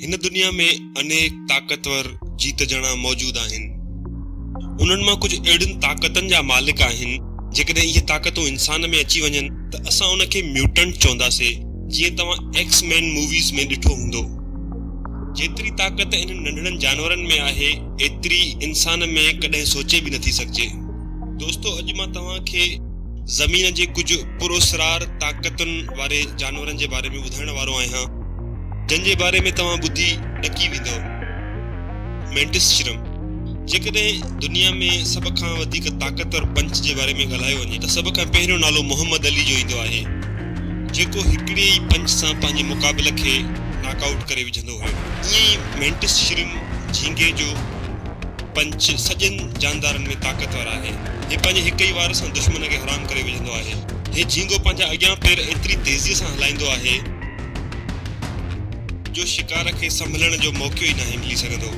هن دنيا ۾ انيڪ طاقتور جيت جڻا موجود آهن. انهن مان ڪجهه اهڙين طاقتن جا مالڪ آهن، جيڪڏهن اهي طاقتون انسان ۾ اچي وڃن ته اسان ان کي ميوٽنٽ چونداسين، جيئن توهان ايڪس مين موويز ۾ ڏٺو هوندو. جيتري طاقت انهن ننڍڙن جانورن ۾ آهي، ايتري انسان ۾ ڪڏهن سوچي به نٿي سگهجي. دوستو اڄ مان توهان کي زمين جي ڪجهه پراسرار طاقتن واري جانورن جي باري ۾ ٻڌائڻ وارو آهيان جن جي باري ۾ توهان ٻڌي ڏڪي ويندؤ مينٽس شرم جيڪڏهن دنيا ۾ سڀ کان وڌيڪ طاقتور پنچ جي باري ۾ ڳالهايو وڃي ته سڀ کان پهريون نالو محمد علي جو ايندو آهي جيڪو هڪڙي ئي پنچ سان پنهنجي مقابل کي ناڪ آئوٽ ڪري وجهندو هيو ائين ئي مينٽس شرم جهينگي جو پنچ سڄن جاندارن ۾ طاقتور آهي. هي پنهنجي هڪ ئي وار سان دشمن کي حرام ڪري وجهندو آهي. هي جهينگو پنهنجا اڳيان پير ايتري تيزيء سان هلائيندو آهي. جو شڪار کي سنڀلڻ جو موقعو ئي ناهي ملي سگهندو.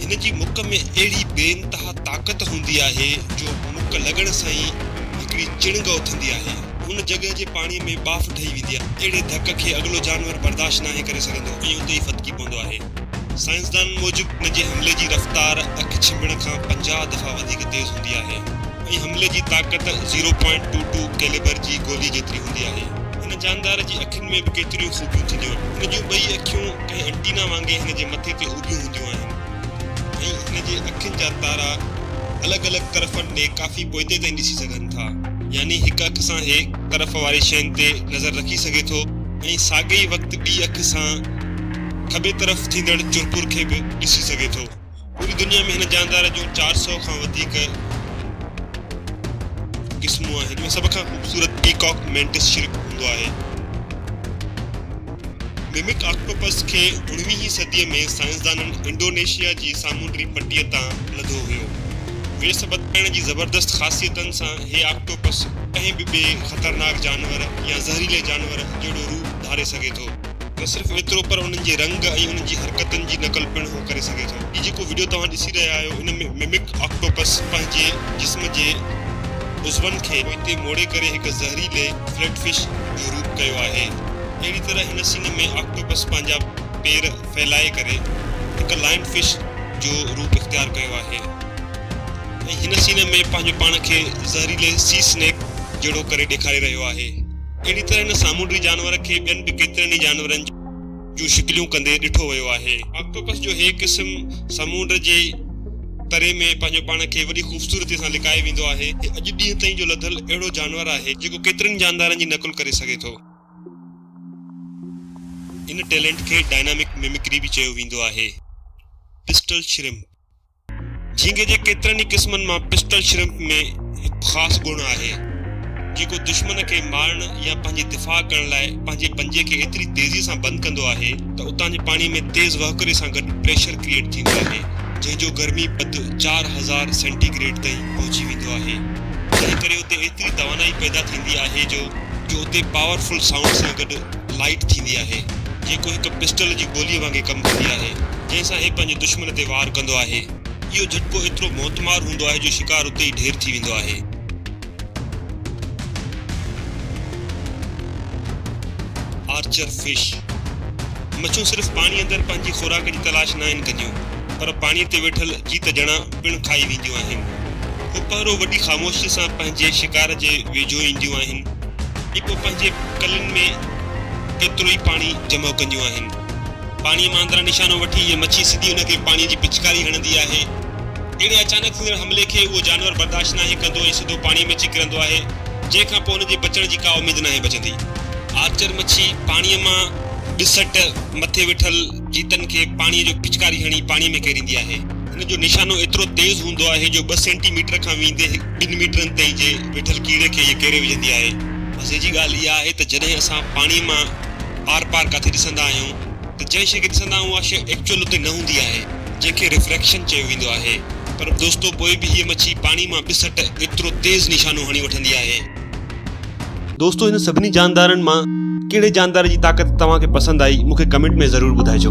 هن جي مک ۾ اهڙي بي انتها طاقت هوندي آهي جو مک لڳڻ سان ئي هڪڙي چڻنگ اٿندي آهي. ان جڳهه جي پاڻي ۾ ٻاڦ ٺهي ويندي آهي. اهڙي ڌڪ کي اڳلو جانور برداشت ناهي ڪري سگهندو ۽ اتي ئي ڦٿڪي پوندو آهي. سائنسدانن موجب ان جي حملي جي رفتار اک ڇنڀڻ کان پنجاهه دفعا وڌيڪ تيز هوندي آهي ۽ حملي جي طاقت zero point two two calibre جي گولي جيتري هوندي آهي. هن جاندار جي اکين ۾ به ڪيتريون خوبيون ٿينديون آهن. هن جون ٻئي اکيون ڪنهن انٽينا وانگي هن جي مٿي تي اڀيون هونديون آهن ۽ هن جي اکين جا تارا الڳ الڳ طرفن ڏي ڪافي پوئتي تائين ڏسي سگهن ٿا. يعني هڪ اک سان هي طرف واري شين تي نظر رکي سگهي ٿو ۽ ساڳئي وقت ٻي اک سان. کٻي طرف ٿيندڙ چرپور کي به ڏسي سگهي ٿو. پوري دنيا ۾ هن جاندار جون چار سؤ کان وڌيڪ قسمون آهن. ان ۾ سڀ کان خوبصورت پيڪاڪ مينٽس شرڪ هوندو آهي. ميمڪ آڪٽوپس کي اڻويهين صديء ۾ سائنسدانن انڊونيشيا جي سامونڊي پٽيء تان لڌو هيو. ويڙهه سبت پائڻ جي زبردست خاصيتن سان هي آڪٽوپس ڪنهن به ٻئي خطرناڪ جانور يا زهريلي جانور جهڙو روپ ڌاري سگهي ٿو. نه صرف ايترو پر انهن جي رنگ ۽ انهن جي حرڪتن جي نقل پڻ هو ڪري سگهي ٿو. هي جيڪو وڊيو توهان ڏسي رهيا آهيو ان ۾ ممڪ آڪٽوپس پنهنجي جسم جي عضون کي پوئتي موڙي ڪري هڪ زهريلي فليٽ فش جو روپ ڪيو آهي. اهڙي طرح هن سين ۾ آڪٽوپس پنهنجا پير ڦهلائي ڪري هڪ لائن فش جو روپ اختيار ڪيو آهي ۽ هن سين ۾ پنهنجو پاڻ کي زهريلي سي سنيڪ جهڙو ڪري ڏيکاري رهيو آهي. اهڙي طرح هن سامونڊي جانور کي ٻين به ڪيترن ئي جانورن جون شڪليون ڪندي ڏٺو ويو آهي. آڪٽوپس جو هي قسم سامونڊ جي تري ۾ پنهنجو پاڻ کي وڏي خوبصورتيء سان لڪائي ويندو آهي. هي اڄ ڏينهن تائين جو لڌل اهڙو جانور آهي، جيڪو ڪيترن ئي جاندارن جي نقل ڪري سگهي ٿو. ان ٽيلنٽ کي ڊائنامڪ ميمڪري به چيو ويندو آهي. Pistol shrimp. جھينگي جي ڪيترن ئي قسمن مان پسٽل شرمپ ۾ هڪ خاص گڻ آهي، جيڪو دشمن کي مارڻ يا پنهنجي دفاع ڪرڻ لاء پنهنجي پنجي کي ايتري تيزيء سان بند ڪندو آهي ته اتان جي پاڻي ۾ تيز وهڪري سان گڏ پريشر ڪريئيٽ ٿيندو آهي، جنهن جو گرمي پد چار هزار سينٽي گريڊ تائين پهچي ويندو آهي، جنهن ڪري اتي ايتري توانائي پيدا ٿيندي آهي جو جو اتي پاور فل سائونڊ سان گڏ. لائيٽ ٿيندي آهي، جيڪو هڪ پسٽل جي گوليء وانگي ڪم ڪندي آهي، جنهن سان هي پنهنجي دشمن تي وار ڪندو آهي. اهو جهٽڪو ايترو موتمار هوندو آهي جو شڪار اتي ئي ڍير ٿي ويندو آهي. آرچر فش، مڇون صرف پاڻي اندر پنهنجي خوراڪ جي تلاش ناهن ڪنديون، پر پاڻي تي ويٺل جيت ڄڻا پڻ کائي وينديون آهن. هو پهرو وڏي خاموشيء سان پنهنجي شڪار جي ويجهو اينديون آهن ۽ پوء پنهنجي ڪلين ۾ ڪيتروئي پاڻي جمع ڪنديون آهن. پاڻيء مان اندران نشانو وٺي هيء مڇي سڌي ان کي پاڻيء جي پچڪاري هڻندي آهي. اهڙي اچانڪ ٿيندڙ حملي کي اهو جانور برداشت ناهي ڪندو ۽ سڌو پاڻيء ۾ اچي ڪرندو آهي، جنهن کان پوء ان جي بچڻ جي ڪا اميد ناهي بچندي. آرچر مڇي پاڻيء مان ٻسٽ مٿي ويٺل جيتن کي پاڻيء جو پچڪاري هڻي پاڻيء ۾ ڪيريندي آهي. هن جو نشانو ايترو تيز هوندو آهي جو ٻه سينٽي ميٽر کان ويندي ٻن ميٽرن تائين جي ويٺل ڪيڙي کي هيء ڪيري وجهندي آهي. مزي جي ڳالهه اها آهي ته جڏهن اسان پاڻيء مان آر پار ڪٿي ڏسندا آهيون ته جنهن شيء کي ڏسندا آهيون اها شيء ايڪچوئل اتي نه هوندي آهي جنهن کي ريفريڪشن چيو ويندو آهي پر دوستو پوء به هيء مڇي پاڻي مان ٻه سٽ ايترو تيز نشانو هڻي وٺندي آهي دوستو هن سڀني جاندارن مان ڪهڙي جاندار جي طاقت توهان کي پسند آئي مونکي ڪمينٽ ۾ ضرور ٻڌائجو